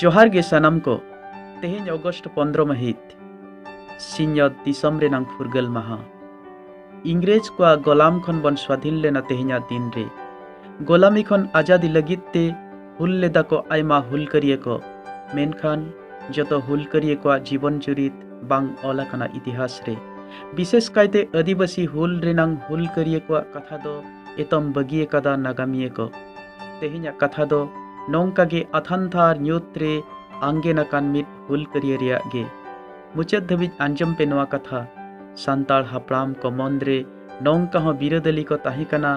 ᱡᱚᱦᱟᱨ ᱜᱮ ᱥᱟᱱᱟᱢ ᱠᱚ ᱛᱮᱦᱮᱧ ᱚᱜᱚᱥᱴ ᱯᱚᱱᱫᱨᱚ ᱢᱟᱹᱦᱤᱛ ᱥᱤᱧᱚᱛ ᱫᱤᱥᱚᱢ ᱨᱮᱱᱟᱝ ᱯᱷᱩᱨᱜᱟᱹᱞ ᱢᱟᱦᱟ ᱤᱝᱨᱮᱡᱽ ᱠᱚᱣᱟᱜ ᱜᱚᱞᱟᱢ ᱠᱷᱚᱱ ᱵᱚᱱ ᱥᱣᱟᱫᱷᱤᱱ ᱞᱮᱱᱟ ᱛᱮᱦᱮᱧᱟᱜ ᱫᱤᱱ ᱨᱮ ᱜᱚᱞᱟᱢᱤ ᱠᱷᱚᱱ ᱟᱡᱟᱫᱤ ᱞᱟᱹᱜᱤᱫ ᱛᱮ ᱦᱩᱞ ᱞᱮᱫᱟ ᱠᱚ ᱟᱭᱢᱟ ᱦᱩᱞᱠᱟᱹᱨᱤᱭᱟᱹ ᱠᱚ ᱢᱮᱱᱠᱷᱟᱱ ᱡᱚᱛᱚ ᱦᱩᱞᱠᱟᱹᱨᱤᱭᱟᱹ ᱠᱚᱣᱟᱜ ᱡᱤᱵᱚᱱ ᱪᱩᱨᱤᱛ ᱵᱟᱝ ᱚᱞ ᱟᱠᱟᱱᱟ ᱤᱛᱤᱦᱟᱥ ᱨᱮ ᱵᱤᱥᱮᱥ ᱠᱟᱭᱛᱮ ᱟᱹᱫᱤᱵᱟᱹᱥᱤ ᱦᱩᱞ ᱨᱮᱱᱟᱝ ᱦᱩᱞᱠᱟᱹᱨᱤᱭᱟᱹ ᱠᱚᱣᱟᱜ ᱠᱟᱛᱷᱟ ᱫᱚ ᱮᱛᱚᱢ ᱵᱟᱹᱜᱤ ᱟᱠᱟᱫᱟ ᱱᱟᱜᱟᱢᱤᱭᱟᱹ ᱠᱚ ᱛᱮᱦᱮᱧᱟᱜ ᱠᱟᱛᱷᱟ ᱫᱚ ᱱᱚᱝᱠᱟ ᱜᱮ ᱟᱛᱷᱟᱱᱛᱷᱟᱨ ᱧᱩᱛ ᱨᱮ ᱟᱝᱜᱮᱱ ᱟᱠᱟᱱ ᱢᱤᱫ ᱦᱩᱞᱠᱟᱹᱨᱤᱭᱟᱹ ᱨᱮᱭᱟᱜ ᱜᱮ ᱢᱩᱪᱟᱹᱫ ᱫᱷᱟᱹᱵᱤᱡ ᱟᱸᱡᱚᱢ ᱯᱮ ᱱᱚᱣᱟ ᱠᱟᱛᱷᱟ ᱥᱟᱱᱛᱟᱲ ᱦᱟᱯᱲᱟᱢ ᱠᱚ ᱢᱚᱱ ᱨᱮ ᱱᱚᱝᱠᱟ ᱦᱚᱸ ᱵᱤᱨᱟᱹᱫᱟᱹᱞᱤ ᱠᱚ ᱛᱟᱦᱮᱸ ᱠᱟᱱᱟ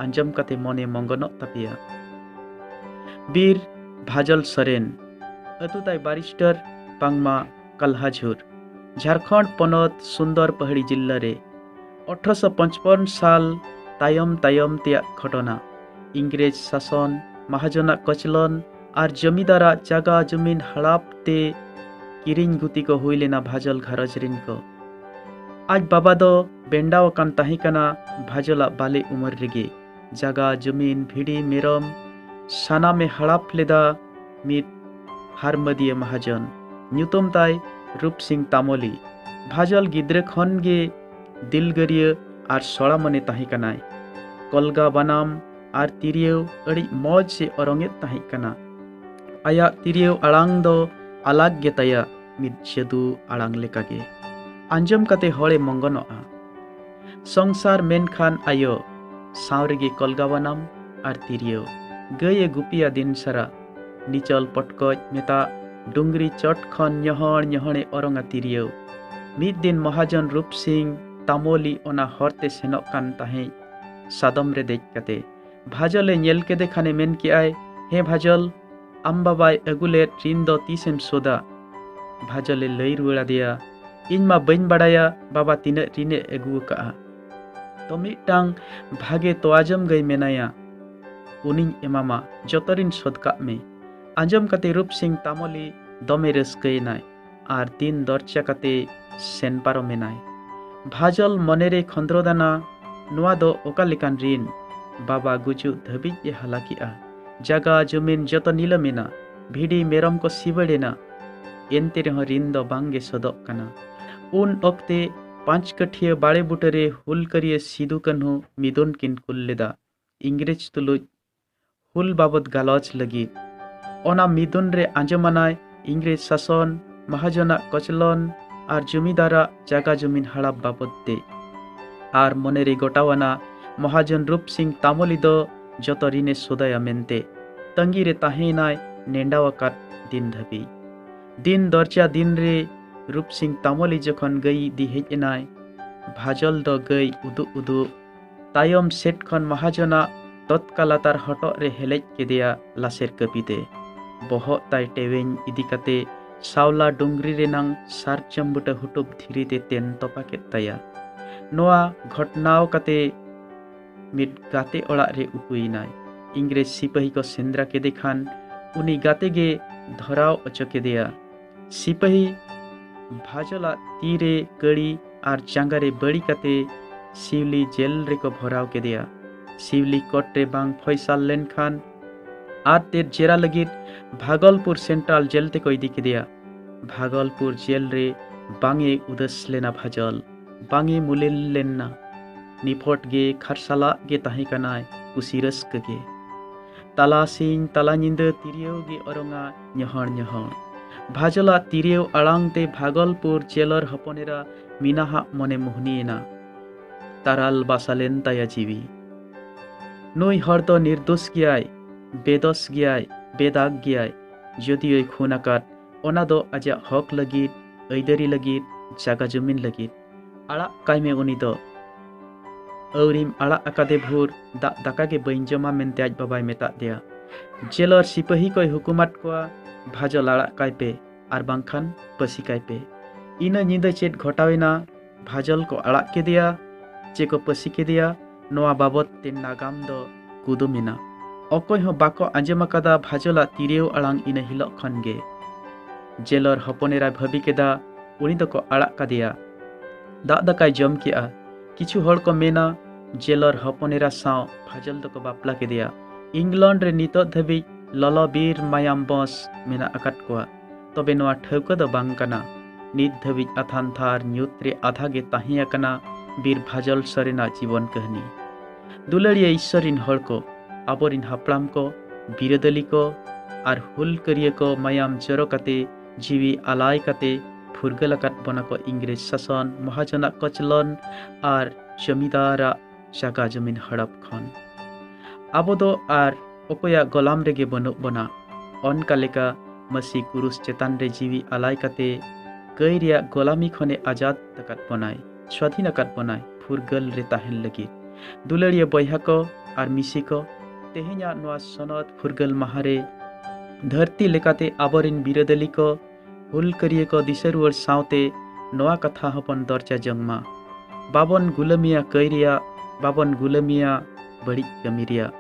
ᱟᱸᱡᱚᱢ ᱠᱟᱛᱮ ᱢᱚᱱᱮ ᱢᱚᱝᱜᱚᱱᱚᱜ ᱛᱟᱯᱮᱭᱟ ᱵᱤᱨ ᱵᱷᱟᱡᱚᱞ ᱥᱚᱨᱮᱱ ᱟᱹᱛᱩ ᱛᱟᱭ ᱵᱟᱨᱤᱥᱴᱟᱨ ᱵᱟᱝᱢᱟ ᱠᱟᱞᱦᱟᱡᱷᱩᱨ ᱡᱷᱟᱨᱠᱷᱚᱸᱰ ᱯᱚᱱᱚᱛ ᱥᱩᱱᱫᱚᱨ ᱯᱟᱦᱟᱲᱤ ᱡᱤᱞᱞᱟ ᱨᱮ ᱚᱴᱷᱨᱚᱥᱚ ᱯᱚᱸᱪᱯᱚᱱ ᱥᱟᱞ ᱛᱟᱭᱚᱢ ᱛᱟᱭᱚᱢ ᱛᱮᱭᱟᱜ ᱜᱷᱚᱴᱚᱱᱟ ᱤᱝᱨᱮᱡᱽ ᱥᱟᱥᱚᱱ ᱢᱟᱦᱟᱡᱚᱱᱟᱜ ᱠᱚᱪᱞᱚᱱ ᱟᱨ ᱡᱚᱢᱤᱫᱟᱨᱟᱜ ᱡᱟᱜᱟ ᱡᱚᱢᱤᱱ ᱦᱟᱲᱟᱯ ᱛᱮ ᱠᱤᱨᱤᱧ ᱜᱩᱛᱤ ᱠᱚ ᱦᱩᱭ ᱞᱮᱱᱟ ᱵᱷᱟᱡᱚᱞ ᱜᱷᱟᱨᱚᱸᱡᱽ ᱨᱤᱱ ᱠᱚ ᱟᱡ ᱵᱟᱵᱟ ᱫᱚ ᱵᱮᱱᱰᱟᱣ ᱟᱠᱟᱱ ᱛᱟᱦᱮᱸ ᱠᱟᱱᱟ ᱵᱷᱟᱡᱚᱞᱟᱜ ᱵᱟᱞᱮ ᱩᱢᱮᱨ ᱨᱮᱜᱮ ᱡᱟᱜᱟ ᱡᱩᱢᱤᱱ ᱵᱷᱤᱰᱤ ᱢᱮᱨᱚᱢ ᱥᱟᱱᱟᱢᱮ ᱦᱟᱲᱟᱯ ᱞᱮᱫᱟ ᱢᱤᱫ ᱦᱟᱨᱢᱟᱹᱫᱤᱭᱟᱹ ᱢᱟᱦᱟᱡᱚᱱ ᱧᱩᱛᱩᱢ ᱛᱟᱭ ᱨᱩᱯ ᱥᱤᱝ ᱛᱟᱢᱚᱞᱤ ᱵᱷᱟᱡᱚᱞ ᱜᱤᱫᱽᱨᱟᱹ ᱠᱷᱚᱱ ᱜᱮ ᱫᱤᱞᱜᱟᱹᱨᱤᱭᱟᱹ ᱟᱨ ᱥᱚᱲᱟ ᱢᱚᱱᱮ ᱛᱟᱦᱮᱸ ᱠᱟᱱᱟᱭ ᱠᱚᱞᱜᱟ ᱵᱟᱱᱟᱢ ᱟᱨ ᱛᱤᱨᱭᱟᱹᱣ ᱟᱹᱰᱤ ᱢᱚᱡᱽ ᱮ ᱚᱨᱚᱝᱮᱫ ᱛᱟᱦᱮᱸ ᱠᱟᱱᱟ ᱟᱭᱟᱜ ᱛᱤᱨᱭᱟᱹᱣ ᱟᱲᱟᱝ ᱫᱚ ᱟᱞᱟᱜᱽ ᱜᱮ ᱛᱟᱭᱟ ᱢᱤᱫ ᱡᱟᱹᱫᱩ ᱟᱲᱟᱝ ᱞᱮᱠᱟᱜᱮ ᱟᱸᱡᱚᱢ ᱠᱟᱛᱮ ᱦᱚᱲᱮ ᱢᱚᱝᱜᱚᱱᱚᱜᱼᱟ ᱥᱚᱝᱥᱟᱨ ᱢᱮᱱᱠᱷᱟᱱ ᱟᱭᱳ ᱥᱟᱶ ᱨᱮᱜᱮ ᱠᱚᱞᱜᱟᱣᱟᱱᱟᱢ ᱟᱨ ᱛᱤᱨᱭᱳ ᱜᱟᱹᱭ ᱮ ᱜᱩᱯᱤᱭᱟ ᱫᱤᱱ ᱥᱟᱨᱟ ᱱᱤᱪᱚᱞ ᱯᱚᱴᱠᱚᱡ ᱢᱮᱛᱟᱜ ᱰᱩᱝᱨᱤ ᱪᱚᱴ ᱠᱷᱚᱱ ᱧᱚᱦᱚᱲ ᱧᱚᱦᱚᱲᱮ ᱚᱨᱚᱝᱟ ᱛᱤᱨᱭᱳ ᱢᱤᱫ ᱫᱤᱱ ᱢᱚᱦᱟᱡᱚᱱ ᱨᱩᱯ ᱥᱤᱝ ᱛᱟᱢᱚᱞᱤ ᱚᱱᱟ ᱦᱚᱨᱛᱮ ᱥᱮᱱᱚᱜ ᱠᱟᱱ ᱛᱟᱦᱮᱸᱫ ᱥᱟᱫᱚᱢ ᱨᱮ ᱫᱮᱡ ᱠᱟᱛᱮ ᱵᱷᱟᱡᱚᱞᱮ ᱧᱮᱞ ᱠᱮᱫᱮ ᱠᱷᱟᱱᱮ ᱢᱮᱱ ᱠᱮᱜᱼᱟᱭ ᱦᱮᱸ ᱵᱷᱟᱡᱚᱞ ᱟᱢ ᱵᱟᱵᱟᱭ ᱟᱹᱜᱩ ᱞᱮᱫ ᱨᱤᱱ ᱫᱚ ᱛᱤᱥᱮᱢ ᱥᱳᱫᱟ ᱵᱷᱟᱡᱚᱞᱮ ᱞᱟᱹᱭ ᱨᱩᱣᱟᱹᱲ ᱟᱫᱮᱭᱟ ᱤᱧ ᱢᱟ ᱵᱟᱹᱧ ᱵᱟᱲᱟᱭᱟ ᱵᱟᱵᱟ ᱛᱤᱱᱟᱹᱜ ᱨᱤᱱᱮ ᱟᱹᱜᱩ ᱟᱠᱟᱜᱼᱟ ᱛᱚ ᱢᱤᱫᱴᱟᱝ ᱵᱷᱟᱜᱮ ᱛᱚᱣᱟ ᱡᱚᱢ ᱜᱟᱹᱭ ᱢᱮᱱᱟᱭᱟ ᱩᱱᱤᱧ ᱮᱢᱟᱢᱟ ᱡᱚᱛᱚ ᱨᱤᱱ ᱥᱳᱫ ᱠᱟᱜ ᱢᱮ ᱟᱸᱡᱚᱢ ᱠᱟᱛᱮ ᱨᱩᱯ ᱥᱤᱝ ᱛᱟᱢᱚᱞᱤ ᱫᱚᱢᱮ ᱨᱟᱹᱥᱠᱟᱹᱭᱮᱱᱟᱭ ᱟᱨ ᱫᱤᱱ ᱫᱚᱨᱪᱟ ᱠᱟᱛᱮ ᱥᱮᱱ ᱯᱟᱨᱚᱢ ᱮᱱᱟᱭ ᱵᱷᱟᱡᱚᱞ ᱢᱚᱱᱮᱨᱮ ᱠᱷᱚᱸᱫᱽᱨᱚᱫᱟᱱᱟ ᱱᱚᱣᱟ ᱫᱚ ᱚᱠᱟ ᱞᱮᱠᱟᱱ ᱨᱤᱱ ᱵᱟᱵᱟ ᱜᱩᱡᱩᱜ ᱫᱷᱟᱹᱵᱤᱡ ᱮ ᱦᱟᱞᱟ ᱠᱮᱜᱼᱟ ᱡᱟᱜᱟ ᱡᱚᱢᱤᱱ ᱡᱚᱛᱚ ᱱᱤᱞᱟᱹᱢ ᱮᱱᱟ ᱵᱷᱤᱰᱤ ᱢᱮᱨᱚᱢ ᱠᱚ ᱥᱤᱵᱟᱹᱲ ᱮᱱᱟ ᱮᱱᱛᱮ ᱨᱮᱦᱚᱸ ᱨᱤᱱ ᱫᱚ ᱵᱟᱝ ᱜᱮ ᱥᱚᱫᱚᱜ ᱠᱟᱱᱟ ᱩᱱ ᱚᱠᱛᱮ ᱯᱟᱸᱪ ᱠᱟᱹᱴᱷᱤᱭᱟᱹ ᱵᱟᱲᱮ ᱵᱩᱴᱟᱹᱨᱮ ᱦᱩᱞᱠᱟᱹᱨᱤᱭᱟᱹ ᱥᱤᱫᱩ ᱠᱟᱹᱱᱦᱩ ᱢᱤᱫᱩᱱ ᱠᱤᱱ ᱠᱩᱞ ᱞᱮᱫᱟ ᱤᱝᱨᱮᱡᱽ ᱛᱩᱞᱩᱡ ᱦᱩᱞ ᱵᱟᱵᱚᱛ ᱜᱟᱞᱚᱪ ᱞᱟᱹᱜᱤᱫ ᱚᱱᱟ ᱢᱤᱫᱩᱱ ᱨᱮ ᱟᱸᱡᱚᱢᱟᱱᱟᱭ ᱤᱝᱨᱮᱡᱽ ᱥᱟᱥᱚᱱ ᱢᱟᱦᱟᱡᱚᱱᱟᱜ ᱠᱚᱪᱞᱚᱱ ᱟᱨ ᱡᱚᱢᱤᱫᱟᱨᱟᱜ ᱡᱟᱜᱟ ᱡᱚᱢᱤᱱ ᱦᱟᱲᱟᱯ ᱵᱟᱵᱚᱛ ᱛᱮ ᱟᱨ ᱢᱚᱱᱮᱨᱮ ᱜᱚᱴᱟᱣᱟᱱᱟ ᱢᱚᱦᱟᱡᱚᱱ ᱨᱩᱯ ᱥᱤᱝ ᱛᱟᱢᱚᱞᱤ ᱫᱚ ᱡᱚᱛᱚ ᱨᱤᱱᱮ ᱥᱚᱫᱟᱭᱟ ᱢᱮᱱᱛᱮ ᱛᱟᱺᱜᱤ ᱨᱮ ᱛᱟᱦᱮᱸᱭᱮᱱᱟᱭ ᱱᱮᱰᱟᱣ ᱟᱠᱟᱫ ᱫᱤᱱ ᱫᱷᱟᱹᱵᱤᱡ ᱫᱤᱱ ᱫᱚᱨᱡᱟ ᱫᱤᱱ ᱨᱮ ᱨᱩᱯ ᱥᱤᱝ ᱛᱟᱢᱚᱞᱤ ᱡᱚᱠᱷᱚᱱ ᱜᱟᱹᱭ ᱤᱫᱤ ᱦᱮᱡ ᱮᱱᱟᱭ ᱵᱷᱟᱡᱚᱞ ᱫᱚ ᱜᱟᱹᱭ ᱩᱫᱩᱜ ᱩᱫᱩᱜ ᱛᱟᱭᱚᱢ ᱥᱮᱫ ᱠᱷᱚᱱ ᱢᱟᱦᱟᱡᱚᱱᱟᱜ ᱛᱚᱛᱠᱟ ᱞᱟᱛᱟᱨ ᱦᱚᱴᱚᱜ ᱨᱮ ᱦᱮᱞᱮᱡ ᱠᱮᱫᱮᱭᱟ ᱞᱟᱥᱮᱨ ᱠᱟᱹᱯᱤᱛᱮ ᱵᱚᱦᱚᱜ ᱛᱟᱭ ᱴᱮᱣᱮᱧ ᱤᱫᱤ ᱠᱟᱛᱮ ᱥᱟᱣᱞᱟ ᱰᱩᱝᱨᱤ ᱨᱮᱱᱟᱝ ᱥᱟᱨᱡᱚᱢ ᱵᱩᱴᱟᱹ ᱦᱩᱴᱩᱯ ᱫᱷᱤᱨᱤ ᱛᱮ ᱛᱮᱱ ᱛᱚᱯᱟ ᱠᱮᱫ ᱛᱟᱭᱟ ᱱᱚᱣᱟ ᱜᱷᱚᱴᱱᱟᱣ ᱠᱟᱛᱮ ᱢᱤᱫ ᱜᱟᱛᱮ ᱚᱲᱟᱜ ᱨᱮ ᱩᱠᱩᱭᱮᱱᱟᱭ ᱤᱝᱨᱮᱡᱽ ᱥᱤᱯᱟᱹᱦᱤ ᱠᱚ ᱥᱮᱸᱫᱽᱨᱟ ᱠᱮᱫᱮ ᱠᱷᱟᱱ ᱩᱱᱤ ᱜᱟᱛᱮ ᱜᱮ ᱫᱷᱚᱨᱟᱣ ᱚᱪᱚ ᱠᱮᱫᱮᱭᱟ ᱥᱤᱯᱟᱹᱦᱤ ᱵᱷᱟᱡᱚᱞᱟᱜ ᱛᱤ ᱨᱮ ᱠᱟᱹᱲᱤ ᱟᱨ ᱡᱟᱸᱜᱟ ᱨᱮ ᱵᱟᱹᱲᱤ ᱠᱟᱛᱮ ᱥᱤᱣᱞᱤ ᱡᱮᱞ ᱨᱮᱠᱚ ᱵᱷᱚᱨᱟᱣ ᱠᱮᱫᱮᱭᱟ ᱥᱤᱣᱞᱤ ᱠᱳᱨᱴ ᱨᱮ ᱵᱟᱝ ᱯᱷᱚᱭᱥᱟᱞ ᱞᱮᱱᱠᱷᱟᱱ ᱟᱨ ᱛᱮᱫ ᱡᱮᱨᱟ ᱞᱟᱹᱜᱤᱫ ᱵᱷᱟᱜᱚᱞᱯᱩᱨ ᱥᱮᱱᱴᱨᱟᱞ ᱡᱮᱞ ᱛᱮᱠᱚ ᱤᱫᱤ ᱠᱮᱫᱮᱭᱟ ᱵᱷᱟᱜᱚᱞᱯᱩᱨ ᱡᱮᱞ ᱨᱮ ᱵᱟᱝ ᱮ ᱩᱫᱟᱹᱥ ᱞᱮᱱᱟ ᱵᱷᱟᱡᱚᱞ ᱵᱟᱝ ᱮ ᱢᱩᱞᱤᱞ ᱞᱮᱱᱟ ᱱᱤᱯᱷᱚᱴ ᱜᱮ ᱠᱷᱟᱨᱥᱟᱞᱟᱜ ᱜᱮ ᱛᱟᱦᱮᱸ ᱠᱟᱱᱟᱭ ᱠᱩᱥᱤ ᱨᱟᱹᱥᱠᱟᱹ ᱜᱮ ᱛᱟᱞᱟ ᱥᱤᱧ ᱛᱟᱞᱟ ᱧᱤᱫᱟᱹ ᱛᱤᱨᱭᱟᱹᱣ ᱜᱮ ᱚᱨᱚᱝᱟ ᱧᱚᱦᱚᱲ ᱧᱚᱦᱚᱲ ᱵᱷᱟᱡᱚᱞᱟᱜ ᱛᱤᱨᱭᱟᱹᱣ ᱟᱲᱟᱝ ᱛᱮ ᱵᱷᱟᱜᱚᱞᱯᱩᱨ ᱪᱮᱞᱚᱨ ᱦᱚᱯᱚᱱᱮᱨᱟ ᱢᱤᱱᱟᱦᱟᱜ ᱢᱚᱱᱮ ᱢᱩᱦᱱᱤᱭᱮᱱᱟ ᱛᱟᱨᱟᱞ ᱵᱟᱥᱟᱞᱮᱱ ᱛᱟᱭᱟ ᱡᱤᱣᱤ ᱱᱩᱭ ᱦᱚᱲ ᱫᱚ ᱱᱤᱨᱫᱳᱥ ᱜᱮᱭᱟᱭ ᱵᱮᱫᱚᱥ ᱜᱮᱭᱟᱭ ᱵᱮᱫᱟᱜ ᱜᱮᱭᱟᱭ ᱡᱚᱫᱤᱭᱳᱭ ᱠᱷᱩᱱ ᱟᱠᱟᱫ ᱚᱱᱟ ᱫᱚ ᱟᱡᱟᱜ ᱦᱚᱠ ᱞᱟᱹᱜᱤᱫ ᱟᱹᱭᱫᱟᱹᱨᱤ ᱞᱟᱹᱜᱤᱫ ᱡᱟᱜᱟ ᱡᱚᱢᱤᱱ ᱞᱟᱹᱜᱤᱫ ᱟᱲᱟᱜ ᱠᱟᱭ ᱢᱮ ᱩᱱᱤ ᱫᱚ ᱟᱹᱣᱨᱤᱢ ᱟᱲᱟᱜ ᱟᱠᱟᱫᱮ ᱵᱷᱳᱨ ᱫᱟᱜ ᱫᱟᱠᱟ ᱜᱮ ᱵᱟᱹᱧ ᱡᱚᱢᱟ ᱢᱮᱱᱛᱮ ᱟᱡ ᱵᱟᱵᱟᱭ ᱢᱮᱛᱟᱫ ᱫᱮᱭᱟ ᱡᱮᱞᱚᱨ ᱥᱤᱯᱟᱹᱦᱤ ᱠᱚᱭ ᱦᱩᱠᱩᱢᱟᱫ ᱠᱚᱣᱟ ᱵᱷᱟᱡᱚᱞ ᱟᱲᱟᱜ ᱠᱟᱭ ᱯᱮ ᱟᱨ ᱵᱟᱝᱠᱷᱟᱱ ᱯᱟᱹᱥᱤ ᱠᱟᱭ ᱯᱮ ᱤᱱᱟᱹ ᱧᱤᱫᱟᱹ ᱪᱮᱫ ᱜᱷᱚᱴᱟᱣᱮᱱᱟ ᱵᱷᱟᱡᱚᱞ ᱠᱚ ᱟᱲᱟᱜ ᱠᱮᱫᱮᱭᱟ ᱪᱮ ᱠᱚ ᱯᱟᱹᱥᱤ ᱠᱮᱫᱮᱭᱟ ᱱᱚᱣᱟ ᱵᱟᱵᱚᱛ ᱛᱮ ᱱᱟᱜᱟᱢ ᱫᱚ ᱠᱩᱫᱩᱢ ᱮᱱᱟ ᱚᱠᱚᱭ ᱦᱚᱸ ᱵᱟᱠᱚ ᱟᱸᱡᱚᱢ ᱟᱠᱟᱫᱟ ᱵᱷᱟᱡᱚᱞᱟᱜ ᱛᱤᱨᱭᱟᱹᱣ ᱟᱲᱟᱝ ᱤᱱᱟᱹ ᱦᱤᱞᱚᱜ ᱠᱷᱚᱱ ᱜᱮ ᱡᱮᱞᱚᱨ ᱦᱚᱯᱚᱱᱮᱨᱟᱭ ᱵᱷᱟᱹᱵᱤ ᱠᱮᱫᱟ ᱩᱱᱤ ᱫᱚᱠᱚ ᱟᱲᱟᱜ ᱠᱟᱫᱮᱭᱟ ᱫᱟᱜ ᱫᱟᱠᱟᱭ ᱡᱚᱢ ᱠᱮᱜᱼᱟ ᱠᱤᱪᱷᱩ ᱦᱚᱲ ᱠᱚ ᱢᱮᱱᱟ ᱡᱮᱞᱚᱨ ᱦᱚᱯᱚᱱ ᱮᱨᱟ ᱥᱟᱶ ᱯᱷᱟᱡᱚᱞ ᱫᱚᱠᱚ ᱵᱟᱯᱞᱟ ᱠᱮᱫᱮᱭᱟ ᱤᱝᱞᱚᱱᱰ ᱨᱮ ᱱᱤᱛᱚᱜ ᱫᱷᱟᱹᱵᱤᱡ ᱞᱚᱞᱚ ᱵᱤᱨ ᱢᱟᱭᱟᱢ ᱵᱚᱥ ᱢᱮᱱᱟᱜ ᱟᱠᱟᱫ ᱠᱚᱣᱟ ᱛᱚᱵᱮ ᱱᱚᱣᱟ ᱴᱷᱟᱹᱣᱠᱟᱹ ᱫᱚ ᱵᱟᱝ ᱠᱟᱱᱟ ᱱᱤᱛ ᱫᱷᱟᱹᱵᱤᱡ ᱟᱛᱷᱟᱱ ᱛᱷᱟᱨ ᱧᱩᱛ ᱨᱮ ᱟᱫᱷᱟ ᱜᱮ ᱛᱟᱦᱮᱸ ᱟᱠᱟᱱᱟ ᱵᱤᱨ ᱵᱷᱟᱡᱚᱞ ᱥᱚᱨᱮᱱᱟᱜ ᱡᱤᱵᱚᱱ ᱠᱟᱹᱦᱱᱤ ᱫᱩᱞᱟᱹᱲᱤᱭᱟᱹ ᱤᱥᱥᱚᱨ ᱨᱤᱱ ᱦᱚᱲ ᱠᱚ ᱟᱵᱚᱨᱤᱱ ᱦᱟᱯᱲᱟᱢ ᱠᱚ ᱵᱤᱨᱟᱹᱫᱟᱹᱞᱤ ᱠᱚ ᱟᱨ ᱦᱩᱞᱠᱟᱹᱨᱤᱭᱟᱹ ᱠᱚ ᱢᱟᱭᱟᱢ ᱡᱚᱨᱚ ᱠᱟᱛᱮ ᱡᱤᱣᱤ ᱟᱞᱟᱭ ᱠᱟᱛᱮ ᱯᱷᱩᱨᱜᱟᱹᱞ ᱟᱠᱟᱫ ᱵᱚᱱᱟ ᱠᱚ ᱤᱝᱨᱮᱡᱽ ᱥᱟᱥᱚᱱ ᱢᱚᱦᱟᱡᱚᱱᱟᱜ ᱠᱚᱪᱞᱚᱱ ᱟᱨ ᱡᱚᱢᱤᱫᱟᱨᱟᱜ ᱡᱟᱜᱟ ᱡᱚᱢᱤᱱ ᱦᱚᱲᱚᱯ ᱠᱷᱚᱱ ᱟᱵᱚ ᱫᱚ ᱟᱨ ᱚᱠᱚᱭᱟᱜ ᱜᱚᱞᱟᱢ ᱨᱮᱜᱮ ᱵᱟᱹᱱᱩᱜ ᱵᱚᱱᱟ ᱚᱱᱠᱟ ᱞᱮᱠᱟ ᱢᱟᱹᱥᱤ ᱠᱩᱨᱩᱥ ᱪᱮᱛᱟᱱ ᱨᱮ ᱡᱤᱣᱤ ᱟᱞᱟᱭ ᱠᱟᱛᱮ ᱠᱟᱹᱭ ᱨᱮᱭᱟᱜ ᱜᱚᱞᱟᱢᱤ ᱠᱷᱚᱱᱮ ᱟᱡᱟᱫ ᱟᱠᱟᱫ ᱵᱚᱱᱟᱭ ᱥᱣᱟᱫᱷᱤᱱ ᱟᱠᱟᱫ ᱵᱚᱱᱟᱭ ᱯᱷᱩᱨᱜᱟᱹᱞ ᱨᱮ ᱛᱟᱦᱮᱱ ᱞᱟᱹᱜᱤᱫ ᱫᱩᱞᱟᱹᱲᱤᱭᱟᱹ ᱵᱚᱭᱦᱟ ᱠᱚ ᱟᱨ ᱢᱤᱥᱤ ᱠᱚ ᱛᱮᱦᱮᱧᱟᱜ ᱱᱚᱣᱟ ᱥᱚᱱᱚᱛ ᱯᱷᱩᱨᱜᱟᱹᱞ ᱢᱟᱦᱟ ᱨᱮ ᱫᱷᱟᱹᱨᱛᱤ ᱞᱮᱠᱟᱛᱮ ᱟᱵᱚᱨᱮᱱ ᱵᱤᱨᱟᱹᱫᱟᱹᱞᱤ ᱠᱚ ᱦᱩᱞᱠᱟᱹᱨᱤᱭᱟᱹ ᱠᱚ ᱫᱤᱥᱟᱹ ᱨᱩᱣᱟᱹᱲ ᱥᱟᱶᱛᱮ ᱱᱚᱣᱟ ᱠᱟᱛᱷᱟ ᱦᱚᱸᱵᱚᱱ ᱫᱚᱨᱡᱟ ᱡᱚᱝ ᱢᱟ ᱵᱟᱵᱚᱱ ᱜᱩᱞᱟᱹᱢᱤᱭᱟ ᱠᱟᱹᱭ ᱨᱮᱭᱟᱜ ᱵᱟᱵᱚᱱ ᱜᱩᱞᱟᱹᱢᱤᱭᱟ ᱵᱟᱹᱲᱤᱡ ᱠᱟᱹᱢᱤ ᱨᱮᱭᱟᱜ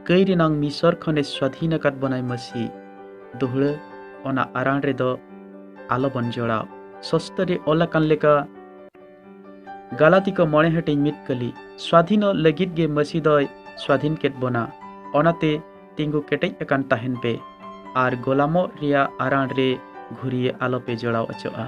ᱠᱟᱹᱭ ᱨᱮᱱᱟᱝ ᱢᱤᱥᱚᱨ ᱠᱷᱚᱱᱮ ᱥᱣᱟᱫᱷᱤᱱ ᱟᱠᱟᱫ ᱵᱚᱱᱟᱭ ᱢᱟᱹᱥᱤ ᱫᱩᱦᱲᱟᱹ ᱚᱱᱟ ᱟᱨᱟᱬ ᱨᱮᱫᱚ ᱟᱞᱚᱵᱚᱱ ᱡᱚᱲᱟᱣ ᱥᱚᱥᱛᱚ ᱨᱮ ᱚᱞ ᱟᱠᱟᱱ ᱞᱮᱠᱟ ᱜᱟᱞᱟᱛᱤ ᱠᱚ ᱢᱚᱬᱮ ᱦᱟᱹᱴᱤᱧ ᱢᱤᱫ ᱠᱟᱹᱞᱤ ᱥᱣᱟᱫᱷᱤᱱᱚᱜ ᱞᱟᱹᱜᱤᱫ ᱜᱮ ᱢᱟᱹᱥᱤ ᱫᱚᱭ ᱥᱣᱟᱫᱷᱤᱱ ᱠᱮᱫ ᱵᱚᱱᱟ ᱚᱱᱟᱛᱮ ᱛᱤᱸᱜᱩ ᱠᱮᱴᱮᱡ ᱟᱠᱟᱱ ᱛᱟᱦᱮᱱ ᱯᱮ ᱟᱨ ᱜᱚᱞᱟᱢᱚᱜ ᱨᱮᱭᱟᱜ ᱟᱨᱟᱬ ᱨᱮ ᱜᱷᱩᱨᱤᱭᱟᱹ ᱟᱞᱚᱯᱮ ᱡᱚᱲᱟᱣ ᱚᱪᱚᱜᱼᱟ